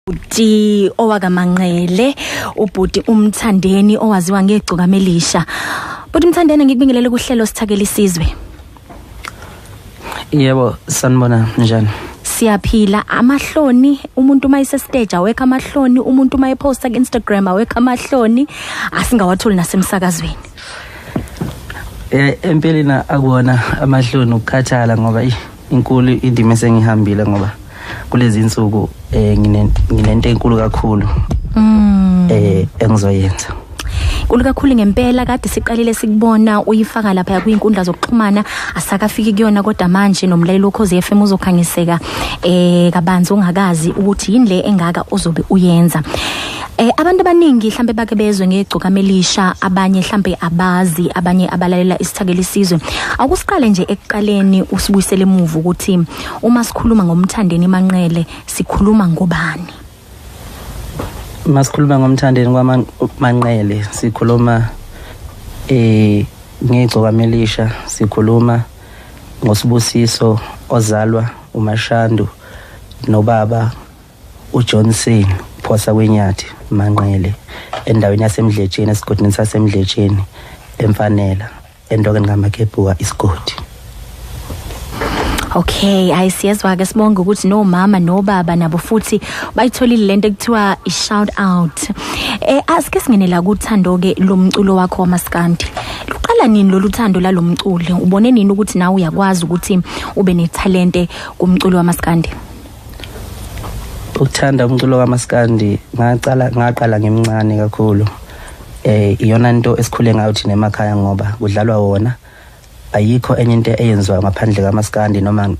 ubhuti owakamanqele ubhuti umthandeni owaziwa ngegcuka melisha bhuti umthandeni ngikubingelele kuhlelo sithakele isizwe yebo sanibona njani siyaphila amahloni umuntu uma isestage awekho amahloni umuntu uma eposta ku Instagram awekho amahloni asingawatholi nasemsakazweni eh empeleni akuwona amahloni ukukhathala ngoba inkulu indima esengihambile ngoba kulezi insuku um eh, nginento enkulu kakhulu um engizoyenza Nkulu kakhulu ngempela kade siqalile sikubona uyifaka lapha kwinkundla zokuxhumana asakafiki kuyona kodwa manje nomlaleli okhoze FM uzokhangiseka eh kabanzi ungakazi ukuthi yini le engaka ozobe uyenza. Eh abantu abaningi mhlambe bake bezwe ngegcokama elisha abanye mhlambe abazi abanye abalalela isithakeli sizwe akusiqale nje ekuqaleni usibuyisele emuva ukuthi uma sikhuluma ngomthandeni manqele sikhuluma ngobani masikhuluma ngomthandeni kwamanqele sikhuluma eh ngegcokama elisha sikhuluma ngosibusiso ozalwa umashandu nobaba ujohnson phosa kwenyathi manqele endaweni yasemdletsheni esigodini sasemdletsheni emfanela endokeni kamakebhuka isigodi Okay, hayi siyezwa ke sibonga ukuthi no mama no baba nabo futhi bayitholile lento ekuthiwa i shout out. Eh asike singenela kuthando ke lomculo wakho wamaskandi. Luqala nini lolu thando lalomculi? Ubone nini ukuthi nawe uyakwazi ukuthi ube ne talente kumculo wamaskandi? ukuthanda umculo kamaskandi ngaqala ngaqala ngimncane kakhulu eh iyona into esikhule ngayo thina emakhaya ngoba kudlalwa wona ayikho enye into eyenziwa ngaphandle kamaskandi noma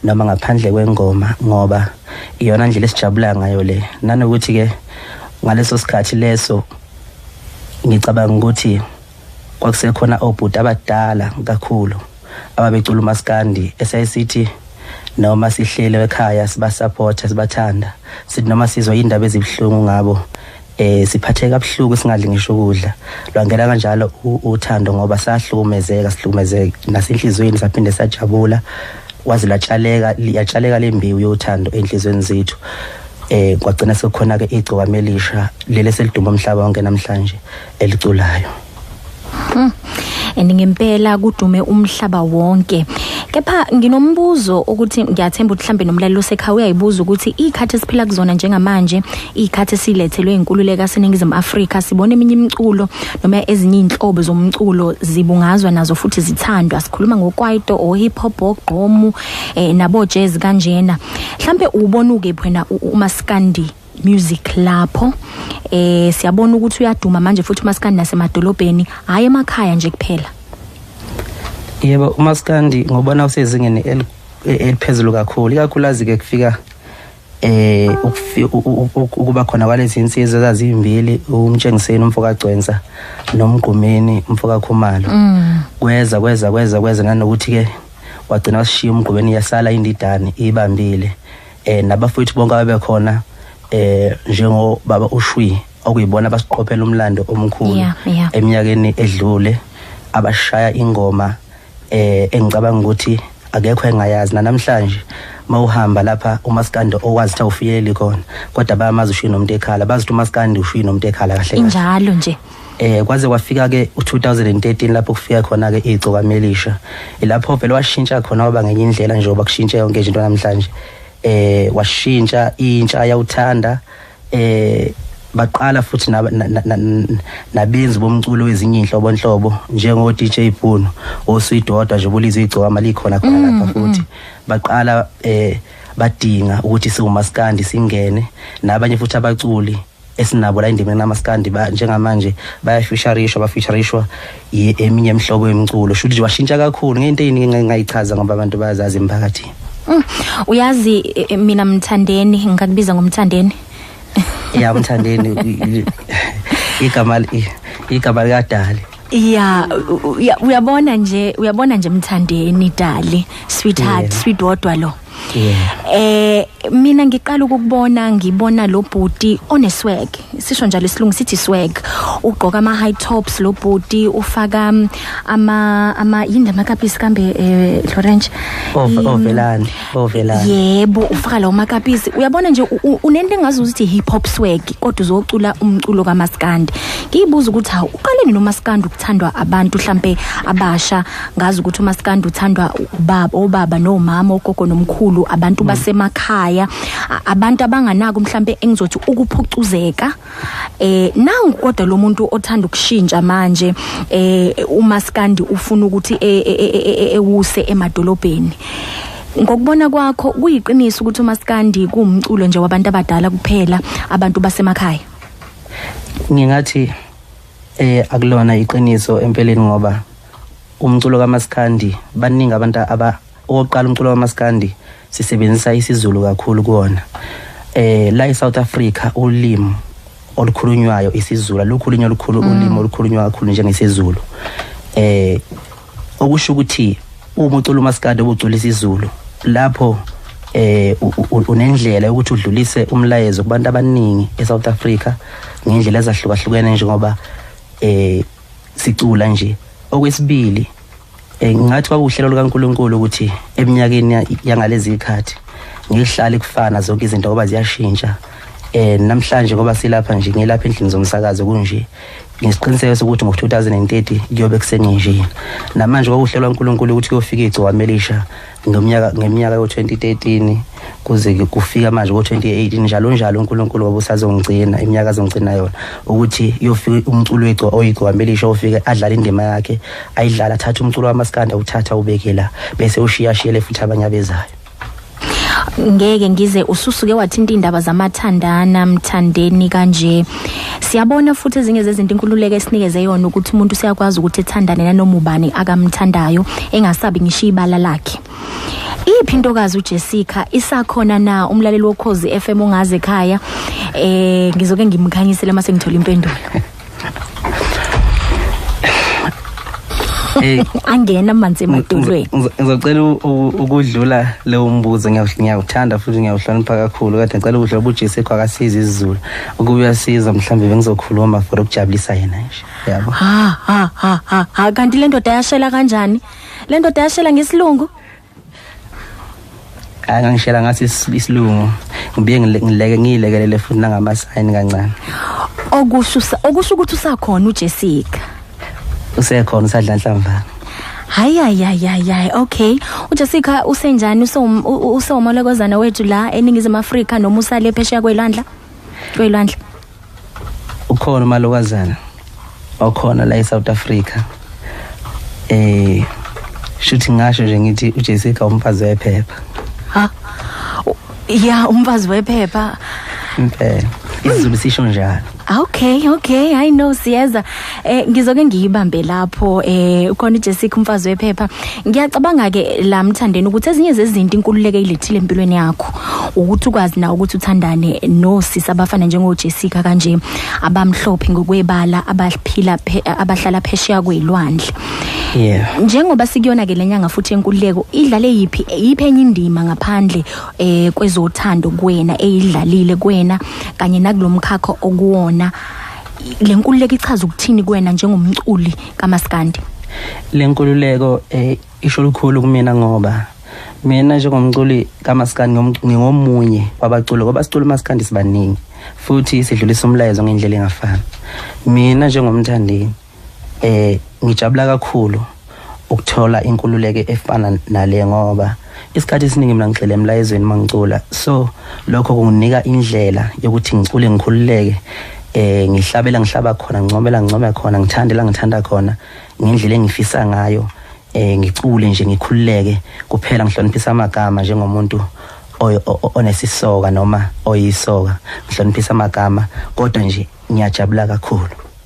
noma ngaphandle kwengoma ngoba iyona ndlela esijabula ngayo le nanokuthi ke ngaleso sikhathi leso ngicabanga ukuthi kwakusekhona obhuti abadala kakhulu ababecula umaskandi esayisithi noma sihlele ekhaya sibasupporta sibathanda sithi noma sizwa indaba ezibuhlungu ngabo eh siphatheka kabuhlungu singadli ngisho ukudla lwangena kanjalo uthando ngoba sahlukumezeka sihlukumezeka nasenhlizweni saphinde sajabula waze latshaleka liyatshaleka lembiwu yothando enhlizweni zethu eh kwagcina sekukhona ke igcokame elisha leli seliduma umhlaba wonke namhlanje eliculayo Mm. and ngempela kudume umhlaba wonke kepha nginombuzo ukuthi ngiyathemba ukuthi mhlambe nomlaleli osekhaya uyayibuza ukuthi ikhathi esiphila kuzona njengamanje ikhathi silethelwe inkululeko aseningizimu Afrika sibona eminye imiculo noma ezinye inhlobo zomculo zibungazwa nazo futhi zithandwa sikhuluma ngokwaito o hip hop ogqomu eh, nabo jazz kanjena mhlambe ubona ukephi wena umaskandi music lapho eh siyabona ukuthi uyaduma manje futhi umaskandi nasemadolobheni hayi emakhaya nje kuphela yebo umaskandi ngobona usezingeni eliphezulu kakhulu ikakhulazi ke kufika eh ukuba khona kwalezi insizwa ezazimbili umtshengiseni umfoka Gcwensa nomgqumeni umfoka Khumalo mm. kweza kweza kweza kweza nanokuthi ke wagcina wasishiya umgqumeni yasala indidane ibambile eh nabafowethu bonke abebekhona eh njengo baba ushwi okuyibona abasiqophela umlando omkhulu Yeah, yeah. eminyakeni edlule abashaya ingoma eh engicabanga ukuthi akekho engayazi nanamhlanje mawuhamba lapha umaskandi owazi ukuthi awufiyeli khona kodwa bayamazi ushwi nomuntu ekhala bazi ukuthi umaskandi ushwi nomuntu ekhala kahle kahle injalo nje eh kwaze kwafika ke u2013 lapho kufika khona ke igcoka melisha ilapho vele washintsha khona waba ngenye indlela nje oba kushintshe yonke into namhlanje eh washintsha intsha yawuthanda eh baqala futhi nabenzi bomculo wezinye inhlobo nhlobo njengo DJ Puno osuyidodwa nje bulizwe igcoka mali khona khona lapha mm, futhi mm. baqala eh badinga ukuthi siwumaskandi singene nabanye futhi abaculi esinabo la endimeni namaskandi ba njengamanje bayafeaturishwa bafeaturishwa eminye imihlobo yomculo shuthi nje washintsha kakhulu ngento eyiningi engingayichaza ngoba abantu bayazazi emphakathini mm. uyazi e, e, mina mthandeni ngikakubiza ngomthandeni ya mthandeni igama igama likadali ya uyabona nje uyabona nje mthandeni dali sweetheart yeah. sweet wodwa lo eh mina ngiqala ukukubona ngibona lo bhuti oneswag sisho njalo isilungu sithi swag ugqoka ama high tops lo bhuti ufaka um, ama ama yini lamakapisi kambe eh Lorenz ovelani ovelani yebo ufaka lawo makapisi uyabona nje unento engazi ukuthi hip hop swag kodwa uzocula umculo kamaskandi ngiyibuza ukuthi uqaleni nomaskandi ukuthandwa abantu mhlambe abasha ngazi ukuthi umaskandi uthandwa ubaba obaba nomama ogogo nomkhulu abantu mm. basemakhaya abantu abanganako mhlambe engizothi ukuphucuzeka eh nangu kodwa lo muntu othanda ukushintsha manje eh umaskandi ufuna ukuthi e, e, e, ewuse emadolobheni ngokubona kwakho kuyiqiniso ukuthi umaskandi kuwumculo nje wabantu abadala kuphela abantu basemakhaya ngingathi Eh akulona iqiniso empeleni ngoba umculo kamaskandi baningi abantu aba okokuqala umculo kamaskandi sisebenzisa isiZulu kakhulu kuona eh la eSouth Africa ulimi olukhulunywayo isiZulu lukhulunywa olukhulu mm. ulimi olukhulunywa kakhulu njengesiZulu eh okusho ukuthi uma ucula umaskandi obuculisa izulu lapho eh unendlela ukuthi udlulise umlayezo kubantu abaningi eSouth Africa ngendlela ezahlukahlukene njengoba eh sicula nje okwesibili eh, ngathi kwakuhlelo likaNkuluNkulu ukuthi eminyakeni yangalezi ikhathi ngihlale kufana zonke izinto ngoba ziyashintsha eh namhlanje ngoba silapha nje ngilapha endlini zomsakazo kunje ngisiqiniseko sokuthi ngo-2030 kuyobe kusengenjini namanje kwakuhlelwa unkulunkulu ukuthi kuyofika igciwane elisha ngeminyaka ngeminyaka yo-2013 kuze kufika manje ko-2018 njalo njalo unkulunkulu wabe usazongigcina iminyaka azongigcina yona ukuthi kuyofika umculo oyigciwane elisha ofike adlale indima yakhe ayidlala athathe umculo wamaskanda uthatha ubekela bese ushiyashiyele futhi abanye abezayo ngeke ngize ususuke wathinta indaba zamathandana mthandeni kanje siyabona futhi ezinye zezinto inkululeko esinikeze yona ukuthi umuntu siyakwazi ukuthi ethandane nanoma ubani akamthandayo engasabi ngisho ibala lakhe iphi intokazi uJessica isakhona na umlaleli wokhozi FM ongaze ekhaya eh ngizoke ngimkhanyisele mase ngithola impendulo Hey, angena amanzi emadolweni ngizo- ngizocela u- u- ukudlula lewo mbuzo ngiyawu- ngiyawuthanda futhi ngiyawuhlonipha kakhulu kade ngicela ukudlula ubujesu ekho akasiza izizulu ukube uyasiza mhlawumbe bengizokhuluma for ukujabulisa yena nje yabo ha ha ha ha ha kanti le ndoda yashela kanjani le ndoda yashela ngesilungu hayi ngangishela ngathi isilungu ngibuye ngileke ngiyilekelele futhi nangamasayini kancane okusho okusho ukuthi usakhona uJessica usekhona usadla nhlamvana hayi hayi hayi hayi okay uJessica usenjani usewomolokozana wethu la eningizimu Afrika noma usale phesheya kwelandla kwelandla ukhona umalokazana okhona la eSouth Africa eh shuthi ngasho nje ngithi uJessica umfazi wephepha ha ya umfazi wephepha impela izulu sisho njalo okay okay i know siyeza eh ngizoke ngiyibambe lapho eh ukhona uJessica umfazi wephepha ngiyacabanga ke la mthandeni ukuthi ezinye zezinto inkululeke ilethile empilweni yakho ukuthi ukwazi na ukuthi uthandane nosisi abafana njengoJessica kanje abamhlophe ngokwebala abaphila abahlala phesheya kwelwandle yeah njengoba sikuyona ke lenyanga futhi enkululeko idlale yipi yipi enye indima ngaphandle eh kwezothando kuwena eyidlalile kuwena kanye nakulomkhakha okuwona le nkululeko ichaza ukuthini kuwena njengomculi kamaskandi le nkululeko eh, isho lukhulu kumina ngoba mina njengomculi kamaskandi ngingomunye wabaculi ngoba sicula umaskandi sibaningi futhi sidlulisa umlayezo ngendlela engafani mina njengomthandeni eh ngijabula kakhulu ukuthola inkululeko efana nale ngoba isikhathi esiningi mina ngigxile emlayezweni mangicula so lokho kunginika indlela yokuthi ngicule ngikhululeke eh ngihlabela ngihlaba khona ngincomela ngincome khona ngithandela ngithanda khona ngendlela engifisa ngayo eh ngicule nje ngikhululeke kuphela ngihloniphisa amagama njengomuntu onesisoka noma oyisoka ngihloniphisa amagama kodwa nje ngiyajabula kakhulu